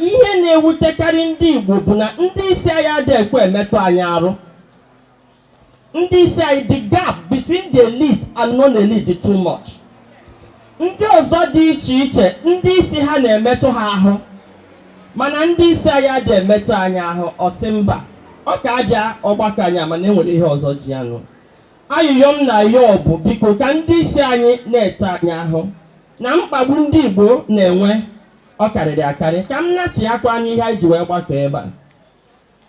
ihe na-ewutekarị ndị Igbo bụ na ndị isi anyị adịghị ekwe emetụ anyị arụ ndị isi anyị the gap between the elite and non-elite dị too much ndị ọzọ dị iche iche ndị isi ha na-emetụ ha ahụ mana ndị isi anyị adịghị emetụ anyị ahụ ọ sị mba ọ ka abịa ọgbakọ anyị a mana enwere ihe ọzọ ji anụ ayịyọ m na-ayọ bụ biko ka ndị isi anyị na-etinye ahụ na mkpagbu ndị Igbo na-enwe ọ karịrị akarị ka m nachighakwanụ ihe anyị ji wee gbakọ ebe a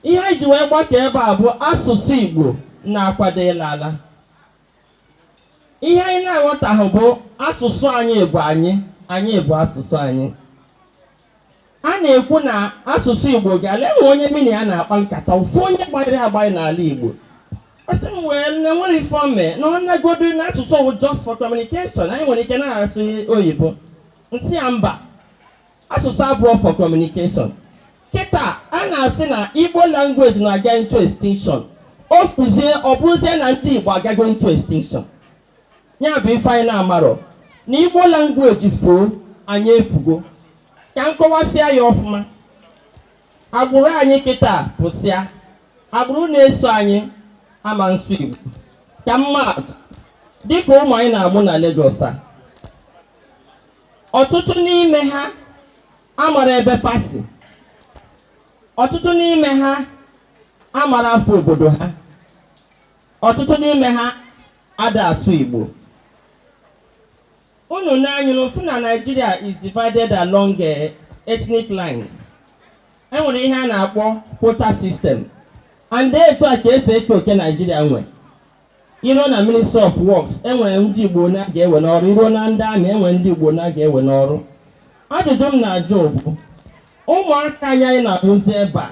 ihe anyị ji wee gbakọ ebe a bụ asụsụ Igbo na-akwado ịla ala ihe anyị na-aghọtahụ bụ asụsụ anyị bụ anyị anyị bụ asụsụ anyị a na-ekwu na asụsụ Igbo ga-ala enwee onye mụ na ya na-akpa nkata ofu onye gbanyere agbanye n'ala Igbo ọ sị m na enwerọ ife o me na ọ nagodo na asụsụ bụ just for communication anyị nwere ike na-asụ oyibo m sị ya mba asụsụ abụrọ for communication kịta a na-asị na igbo language na-aga into extinction o fuzie ọ bụrụzie na ndị igbo agago into extinction ya bụ ife anyị na-amarọ na igbo language fuo anyị efugo ka m kọwasịa ya ọfụma agbụrụ anyị kịta pụsịa agbụrụ na-eso anyị ama nsụ igbo ka m maa atụ dịka ụmụ anyị na-amụ na Lagos a ọtụtụ n'ime ha amara ebe fa si ọtụtụ n'ime ha amara afa obodo ha ọtụtụ n'ime ha ada asụ Igbo unu na anyị na-afụ na Nigeria is divided along eh, ethnic lines enwere ihe a na-akpọ quota system and etu a ka e si eke oke Nigeria nwe i ruo na ministry of works enwere ndị igbo one a ga-ewe n'ọrụ i ruo na ndị army enwere ndị igbo one a ga-ewe n'ọrụ ajụjụ m na-ajụ bụ ụmụaka anyị anyị na-amụzi ebe a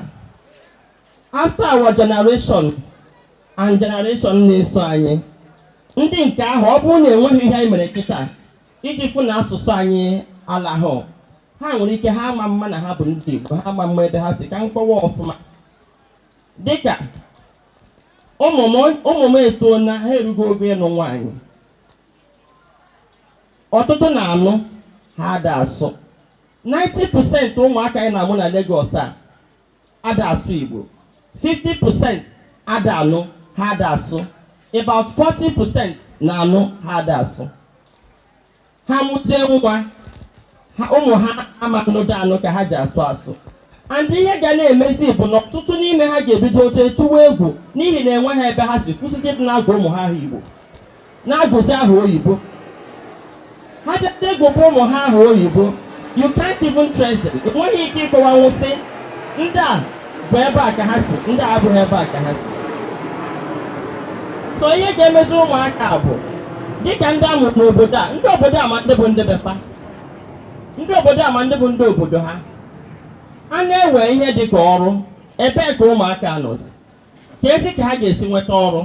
after our generation and generation na-eso anyị ndị nke ahụ ọ bụrụ na enweghị ihe anyị mere kịta iji fụ na asụsụ anyị alahụ ha nwere ike ha ama mma na ha bụ ndị igbo ha ama mma ebe ha si ka m kọwaa ọfụma dịka ụmụ m ụmụ m etoona ha erugo ogo ịlụ nwaanyị ọtụtụ na-anụ ha ada asụ 90% ụmụaka anyị na-amụ na Lagos a ada asụ Igbo 50% ada anụ ha ada asụ about 40% na-anụ ha ada asụ ha mụta nwa ụmụ ha ama nnụdo anụ ka ha ji asụ asụ and ihe ga na-emezi bụ na ọtụtụ n'ime ha ga-ebido tụwa egwu n'ihi na enweghị ebe ha si kwụsịtị dị na-agụ ụmụ ha aha igbo na-agụzi aha oyibo ha bịa gụba ụmụ ha aha oyibo you can't even trace them enweghị ike ịkọwanwu sị ndị a bụ ebe a ka ha si ndị a abụghị ebe a ka ha si so ihe ga-emezi ụmụaka bụ dịka ndị a mụ n'obodo a ndị obodo a ma ndị bụ ndị be fa ndị obodo a ma ndị bụ ndị obodo ha a na-ewe ihe dị ka ọrụ ebee ka ụmụaka nọzi keezi ka ha ga-esi nweta ọrụ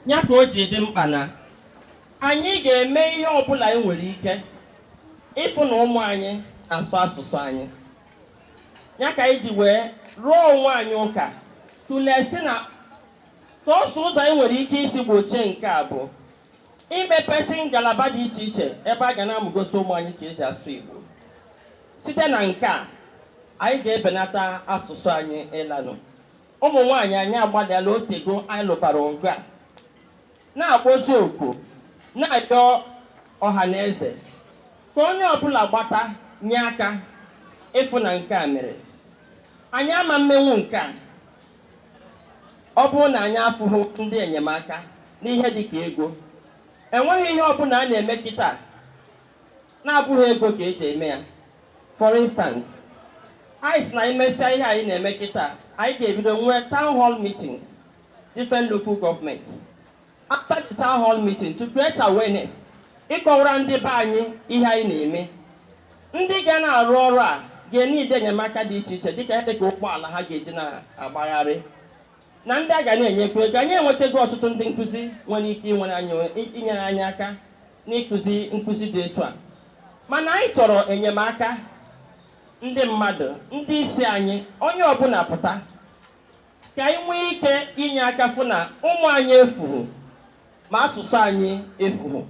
ya ka o ji dị mkpa na anyị ga-eme ihe ọbụla anyị nwere ike ịfụ na ụmụ anyị na-asụ asụsụ anyị ya ka anyị ji wee rụọ onwe anyị ụka tụlee sị na sọsọ ụzọ anyị nwere ike isi gbochie nke a bụ imepesị ngalaba dị iche iche ebe a ga na-amụgosi ụmụ anyị ka eji asụ Igbo site na nke a anyị ga-ebenata asụsụ anyị ịlanụ ụmụ nwaanyị anyị agbalịala o tego anyị lụbara ọgụ a na-akpọzi oku na-ayọ ọha na eze ka onye ọbụla gbata nye aka ịfụ na nke a mere anyị ama mmenwu nke a ọ bụrụ na anyị afụhụ ndị enyemaka n'ihe dị ka ego enweghị ihe ọbụla a na-eme kịta na-abụghị ego ka eji eme ya for instance anyị sị na anyị mesịa ihe anyị na-eme kịta anyị ga-ebido nwee town hall meetings different local governments after the town hall meeting to create awareness ịkọwara ndị be anyị ihe anyị na-eme ndị ga na-arụ ọrụ a ga-eneed enyemaka dị iche iche dịka dị ka ụgbọala ha ga-eji na-agbagharị na ndị a ga na-enyekwa ego anyị enwetago ọtụtụ ndị nkụzi nwere ike inyere anyị aka n'ịkụzi nkụzi dị etu a mana anyị chọrọ enyemaka ndị mmadụ ndị isi anyị onye ọbụla pụta ka anyị nwee ike inye aka fụ na ụmụ anyị efuhu ma asụsụ anyị efuhu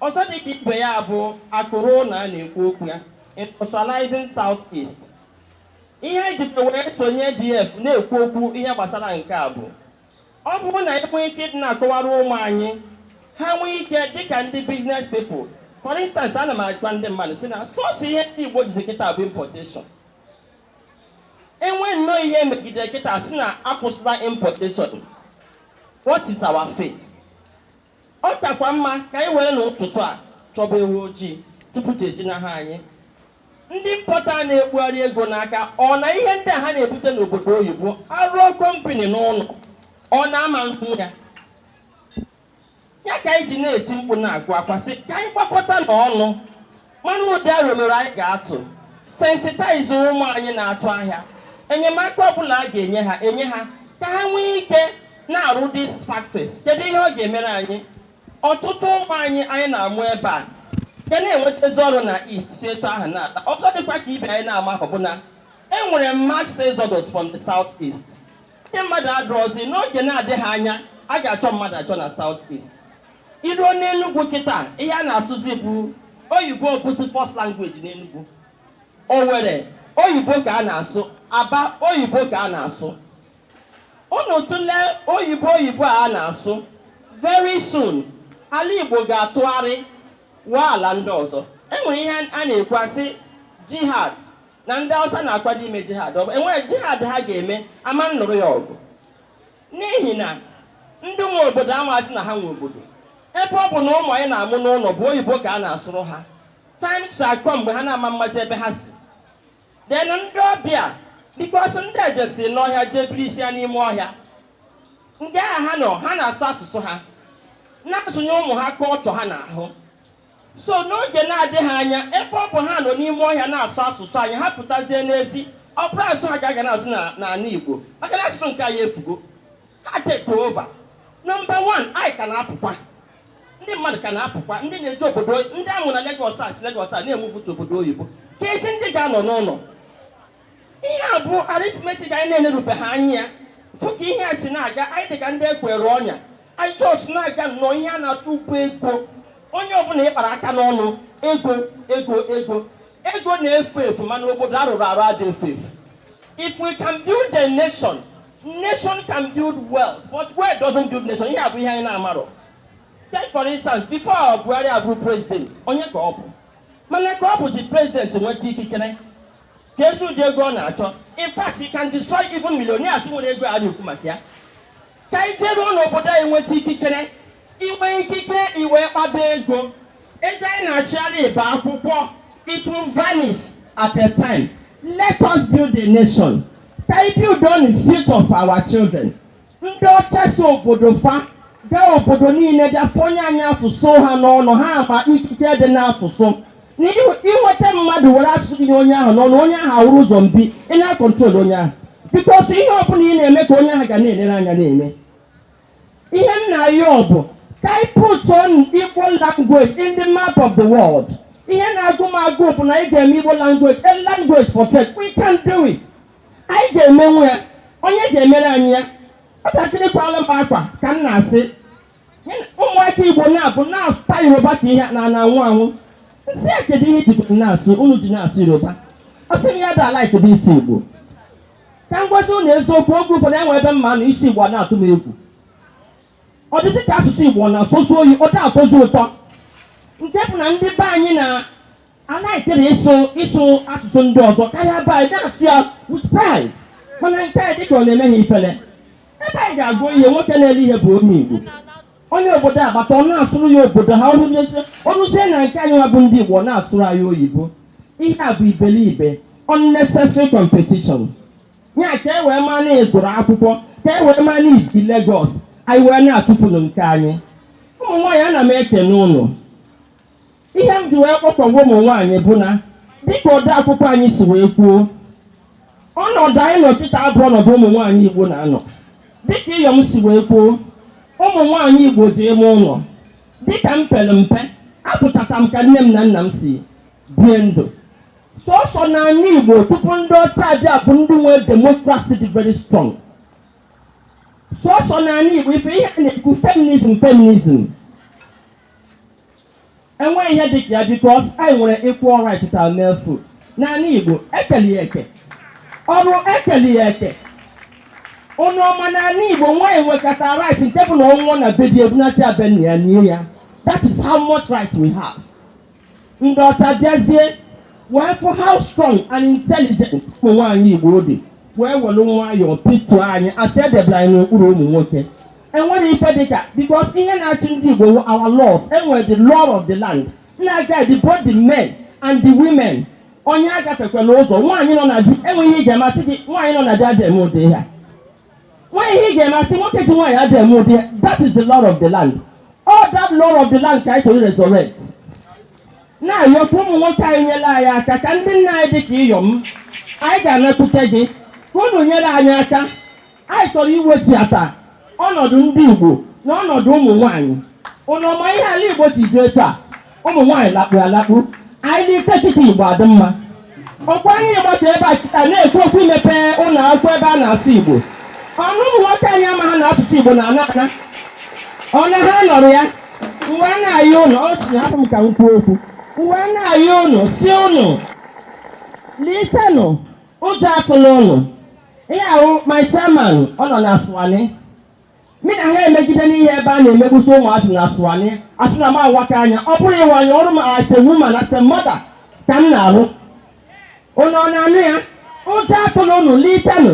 ọzọ dị ka ibe ya bụ akụ ruo ụlọ a na-ekwu okwu ya industrializing south east ihe anyị jikwa wee sonye adf na-ekwu okwu ihe gbasara nke a bụ ọ bụrụ na e nwee ike ịdị na-akọwara ụmụ anyị ha nwee ike dịka ndị business people for instance ana m agwa ndị mmadụ sị na sọsọ ihe ndị igbo jizi kịta bụ importation e nwee nnọọ ihe megidere kịta sị na akwụsịla importation what is our fate ọ kakwa mma ka anyị were n'ụtụtụ a chọba ewu ojii tupu chi ejinaha anyị ndị importer na-ekpugharị ego n'aka ọ na ihe ndị a ha na-ebute n'obodo oyibo a rụọ company n'ụlọ ọ na-ama nkwu ya ya ka anyị ji na-eti mkpu na-agụ akwa sị ka anyị gbakọta na ọnụ mana ụdị aro mere anyị ga-atụ sensitize ụmụ anyị na-atụ ahịa enyemaka ọbụla a ga-enye ha enye ha ka ha nwee ike na-arụ these factories kedu ihe ọ ga-emere anyị ọtụtụ ụmụ anyị anyị na-amụ ebe a ga na-enwetazi ọrụ na east si etu ahụ na-ata ọzọ dịkwa ka ibe anyị na-amarọ bụ na enwere mass exodus from the south east Ndị mmadụ adịrọzi n'oge na-adịghị anya a ga-achọ mmadụ achọ na South East. I ruo n'Enugwu kịta ihe a na-asụzi bụ oyibo bụzi first language n'Enugwu. Owere oyibo ka a na-asụ, Aba oyibo ka a na-asụ. Unu tụlee oyibo oyibo a a na-asụ, very soon ala Igbo ga-atụgharị ghọọ ala ndị ọzọ. E nwere ihe a na-ekwu a sị jihad na ndị Hausa na-akwado ime jihad enwere jihad ha ga-eme ama nụrụ ya ọgụ n'ihi na ndị nwe obodo amazi na ha nwe obodo ebe ọ bụ na ụmụ anyị na-amụ n'ụlọ bụ oyibo ka a na-asụrụ ha time shall come mgbe ha na-ama amazi ebe ha si then ndị ọbịa because ndị a jesi n'ọhịa jee birisia n'ime ọhịa nga ahụ ha nọ ha na-asụ asụsụ ha na-azụnye ụmụ ha culture ha n'ahụ So n'oge na-adịghị anya, ebe ọ bụ ha nọ n'ime ọhịa na-asụ asụsụ anyị, ha pụtazie n'ezi, ọ bụrụ asụsụ ha ka a ga na-asụ na- n'ala Igbo, maka na asụsụ nke anyị efugo. Ha take over. Number one, anyị ka na-apụkwa. Ndị mmadụ ka na-apụkwa, ndị na-eje obodo, ndị a mụ na Lagos a si Lagos a na-enwepụta obodo oyibo. Keezi ndị ga-anọ n'ụlọ, ihe a bụ arithmetic anyị na-enerubeghị anya fụ ka ihe a si na-aga anyị dị ka ndị ekwere ọnya anyị just na-aga nnọọ ihe a na-achụ bụ ego onye ọbụla ịkpara aka n'ọnụ ego ego ego ego na-efu efu mana obodo arụrụ arụ adị efu efu if we can build a nation nation can build wealth but wealth doesn't build nation ihe a bụ ihe anyị na-amarọ take for instance before buhari abụrụ president onye ka ọ bụ mana ka ọ bụzi president nweta ikikere keezi ụdị ego ọ na-achọ in fact he can destroy even millionaires nwere ego a na-ekwu maka ya ka anyị jeruo n'obodo anyị nweta ikikere i nwee ikikere i wee kpaba ego ego anyị na-achụgharị ibe akwụkwọ it will vanish at a time let us build a nation ka anyị build on the future of our children ndị ọcha si obodo fa gaa obodo niile bịa fọnye anyị asụsụ ha n'ọnụ ha ma ikike dị n'asụsụ na ị- i nweta mmadụ were asụsụ gị nye onye ahụ n'ọnụ onye ahụ awụrụ zombie ị na-control onye ahụ because ihe ọbụla ị na-eme ka onye ahụ ga na-elere anya na-eme ihe m na-ayọ bụ ka anyị put on igbo language in the map of the world ihe na-agụ m agụụ bụ na anyị ga-eme igbo language a language for tech we can do it anyị ga-emenwu ya onye ga-emere anyị ya nwatakịrị kwala m akwa ka m na-asị ụmụaka igbo na-abụ na-ata yoruba ka ihe na-anwụ anwụ m sị ya kedu ihe jikwa na-asụ unu ji na-asụ yoruba ọ sị m ya da ala kedu isi igbo ka m gwazi unu eziokwu oge ụfọdụ e nwee ebe m ma-anọ ịsụ igbo na-atụ m egwu ọ dịzị ka asụsụ igbo na-asọzi oyi ọ da-atọzi ụtọ nke bụ na ndị be anyị na a na-ekere ịsụ ịsụ asụsụ ndị ọzọ karịa be anyị na-asụ ya with pride mana nke a dịka ọ na-eme ha ifele ebe anyị ga-ego ihe nwoke na-ele ihe bụ onye Igbo onye obodo agbata ọ na-asụrụ ya obodo ha o ruzie na nke anyị nwa bụ ndị Igbo ọ na-asụrụ anyị oyibo ihe a bụ iberibe unnecessary competition ya ka e wee maa na ị gụrụ akwụkwọ ka e wee maa na i bi Lagos anyị wee na-atụfuru nke anyị ụmụ nwaanyị ana m ekene unu ihe m ji wee kpọkọwa ụmụ nwaanyị bụ na dịka ode akwụkwọ anyị si wee kwuo ọnọdụ anyị nọ kịta abụ ọnọdụ ụmụ nwaanyị igbo na-anọ dịka iyom si wee kwuo ụmụ nwaanyị igbo dị ime ụlọ dịka m pere mpe afụtara m ka nne m na nna m si bie ndụ sọsọ n'anị igbo tupu ndị ọcha abịa bụ ndị nwee demokrasi dị very strong sọsọ n'anị igbo ife ihe a na-ekwu feminism feminism enweghị ihe dị ka ya because anyị nwere equal right to our male folk n'anị igbo ekeli ya eke ọrụ ekeli ya eke unu ọ ma n'anị igbo nwaanyị nwekata right nke bụ na ọ nwụọ na be di e bunata ya be nna ya nie ya that is how much right we have ndị ọcha bịazie wee fụ how strong and intelligent ụmụ nwaanyị Igbo dị wee were nwayọọ pituo anyị asị edebere anyị n'okpuru ụmụ nwoke enwere ife dịka because ihe na-achị ndị Igbo our laws enwere the law of the land na-guide both the men and the women onye agafekwala ụzọ nwaanyị nọ na di e nwee ihe ị ga-eme a sị gị nwaanyị nọ na di adịghị eme ụdị ihe a nwee ihe ị ga-eme a sị nwoke ji nwaanyị adịghị eme ụdị ya. that is the law of the land all that law of the land ka anyị chọrọ resurrect na-ayọ ka ụmụ nwoke anyị nyere anyị aka ka ndị nna anyị dị ka iyom anyị ga-anakwute gị ka unu nyere anyị aka anyị chọrọ iwechiata ọnọdụ ndị Igbo na ọnọdụ ụmụ nwaanyị unu ọ ma ihe ala Igbo ji dị etu a ụmụ nwaanyị lakpu alakpu anyị nilie kịta igbo adị mma ọ kwa anyị gbasaa ebe a kịta na-ekwu okwu imepe ụlọ akwụkwọ ebe a na-asụ igbo ọ na ụmụ nwoke anyị amaha na asụsụ igbo na-ana ana ọ na ha nọrọ ya m wee na-ayọ unu o tinye hapụ m ka m kwuo okwu m wee na-ayọ unu sị unu litenụ ụjọ atụla unu ihe ahụ my chairman ọ nọ na aswani Mị na ha emegide n'ihe ebe a na-emegbusi ụmụazị na Aswani, a sị na m awaka anya, ọ bụrọ ịwa anya, ọrụ m as a woman, as a mother ka m na-arụ. Unu ọ na-anụ ya? Ụjọ atụla unu, litenụ.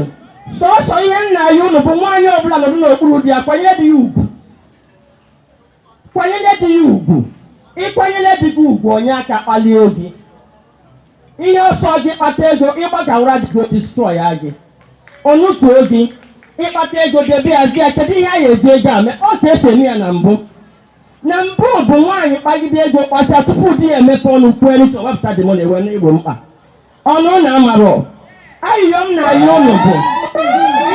Sọọsọ ihe m na-ayọ unu bụ nwaanyị ọbụla nọdụ n'okpuru di ya, kwanyere di ya ugwu. kwanyere di ya ugwu ị kwanyere di gị ugwu o nye aka kpalie gị ihe ọ sọ gị kpata ego ịgbagawara di gị destroy ya gị o nutuo gị ị kpata ego debe ya zi ya kedu ihe a ga-eji ego a mee ọ ka e si eme ya na mbụ na mbụ bụ nwaanyị kpagide ego kpachaa tupu di ya emepe ọnụ kwuo elu ka wepụta dị mọna ewe n'igbo mkpa ụnụ na-amarọ ayịyọ m na-ayọ ụnụ bụ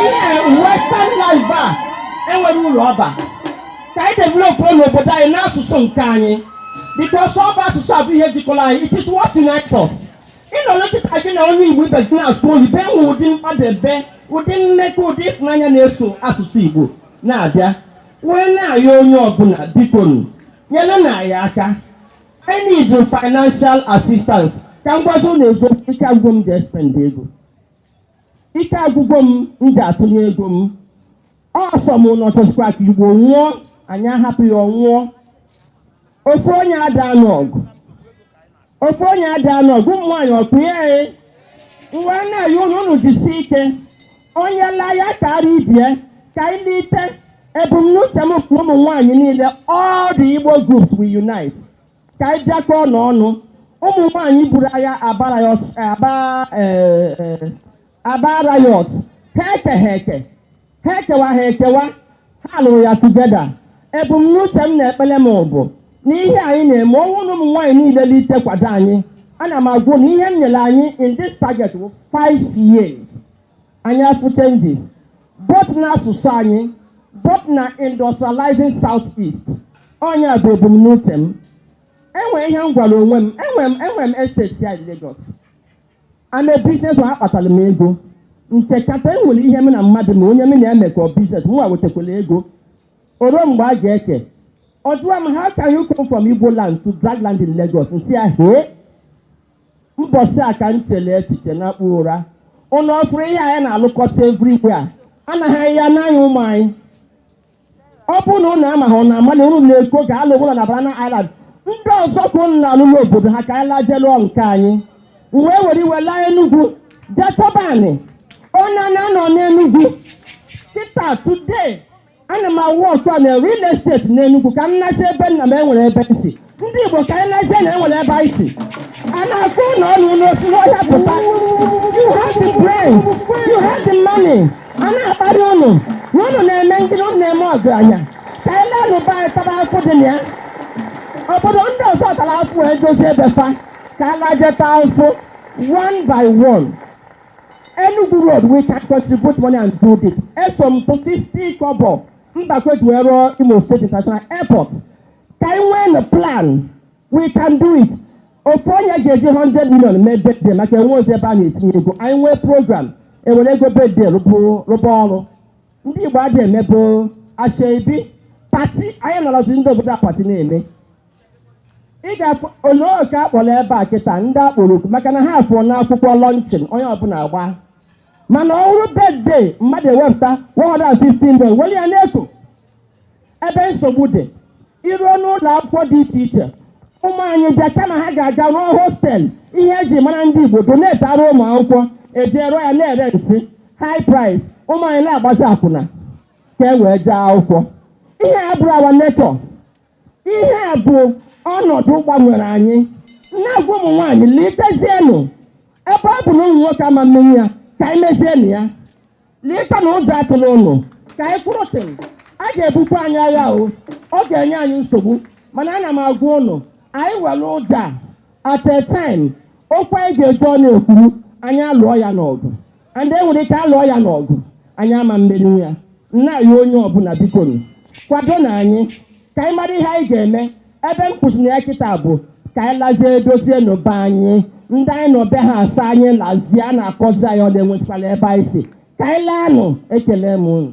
ihe western life a enwerọ ulu ọ ba ka anyị developụnụ obodo anyị na asụsụ nke anyị because ọ bụ asụsụ a bụ ihe jikọrọ anyị it is what unites us ị nọrọ kịta gị na onye igbo ibe gị na-asụ oyibo e nwe ụdị mkpadebe ụdị mmekọ ụdị ịfụnanya na-eso asụsụ igbo na-abịa wee na-ayọ onye ọbụla bikonụ nyerenụ anyị aka I need financial assistance ka m gwazi ụnụ eziokwu ike agwụgo m ji spend ego ike agwụgo m m ji atụnye ego m ọsọ m ụnụ chọsikwa ka igbo nwụọ anyị ahapụ ya ọ nwụọ ofu onye ada anụ ọgụ ofu onye ada anụ ọgụ ụmụ nwaanyị ọkụ ya e m wee na-ayọ ụnụ ụnụ jisi ike onye laa ya kara ibe ya ka anyị lite ebumnuche m bụ ụmụ nwaanyị niile all the Igbo groups we unite ka anyị bịakọọnụ ọnụ ụmụ nwaanyị buru agha Aba riot ha ekewa ha lụrụ ya together ebumnuche m na ekpele m bụ na ihe anyị na-eme ọ bụ na ụmụ nwaanyị niile lite kwado anyị ana m agwa ụnụ na ihe m nyere anyị in this target bụ 5 years anyị afụ changes both na asụsụ anyị both na industrializing south east ọ ya bụ ebumnuche m e nwe ihe m gwara onwe m enwe m estate here in Lagos and business a kpatara m ego nke kata e nwere ihe m na mmadụ na onye m na-emekọ business mụwa wetekwala ego o ruo mgbe a ga-eke ọ jụwa m how can you come from Igbo land to drag land in Lagos m sị ya hee mbọsị a ka m chere echiche nakpuo ụra ụnụ ọ fụrụ ihe anyị na-alụkọta everywhere a anaghị anyị ya n'anya ụmụ anyị ọ bụrụ na ụnụ amaghị ụnụ amalụ ụnụ na-eko ga alụ ụlọ na Banana Island ndị ọzọ ka ụnụ na-alụ n'obodo ha ka anyị laa jee lụọ nke anyị m wee were iwe laa Enugu jee chọba anị onye na-anọ n'Enugu kịta today ana m awụ ọkụ a na real estate n'Enugu ka m nazi ebe nna m enwere ebe m si ndị Igbo ka anyị nazie na enwere ebe anyị si a na-akọ ụnụ ọnụ na ụnụ si n'ọhịa pụta you have the brains you have the money a na-akparị ụnụ na ụnụ na-eme gịnị ụnụ na-eme ọgaranya ka anyị laanụ be anyị tara afụ dị na ya obodo ndị ọzọ tara afụ wee dozie be fa ka a laje taa afụ one by one Enugu road we can contribute money and do this. Eso m tụọ 50 kobo Mbakwe ji wee rụọ Imo State International Airport. Ka anyị nweenụ plan, we can do it. Ofu onye ga-eji 100 million mee birthday maka enwerozi ebe a na-etinye ego. Anyị nwee program, ewere ego birthday rụpụ- rụba ọrụ. Ndị Igbo adịghị emebu asoebi pati anyị nọrọzi ndị obodo a pati na-eme. ị ga-ele oku a kpọrọ ebe a kịta ndị akpọrọ oku maka na ha afụ n'akwụkwọ launching onye ọbụla agba mana ọ bụrụ birthday mmadụ ewepụta 115 million were ya n'Eko ebe nsogbu dị i ruo n'ụlọ akwụkwọ dị iche iche ụmụ anyị bịa kama ha ga-aga rụọ hostel ihe eji mara ndị Igbo donate-ara ụmụ akwụkwọ ejee rụọ ya na-erenti high price ụmụ anyị na-agbazi akwụna ka e wee jee akwụkwọ ihe a abụrọ our nature ihe a bụ ọnọdụ gbanwere anyị na-agwa ụmụ nwaanyị litezienụ ebe ọ bụ na ụmụ nwoke ama mmeri ya ka anyị mezienụ ya lite na ụjọ atụla ụnụ ka anyị kwụrụ chịm a ga-ebukwa anyị agha o ọ ga-enye anyị nsogbu mana ana m agwa ụnụ anyị were ụjọ at a time okwu anyị ga-eji ọnụ ekwuru anyị alụọ ya n'ọgụ and e nwere ike alụọ ya n'ọgụ anyị ama mmeri ya nna anyị onye ọbụla bikonu kwadonụ anyị ka anyị mara ihe anyị ga-eme ebe m kwụsịrị ya kịta bụ ka anyị lazie dozienụ be anyị ndị anyị nọ be ha asị anyị lazie a na-akọzi anyị ọnụ na enwetụkwala ebe anyị si ka anyị laanụ ekele m unu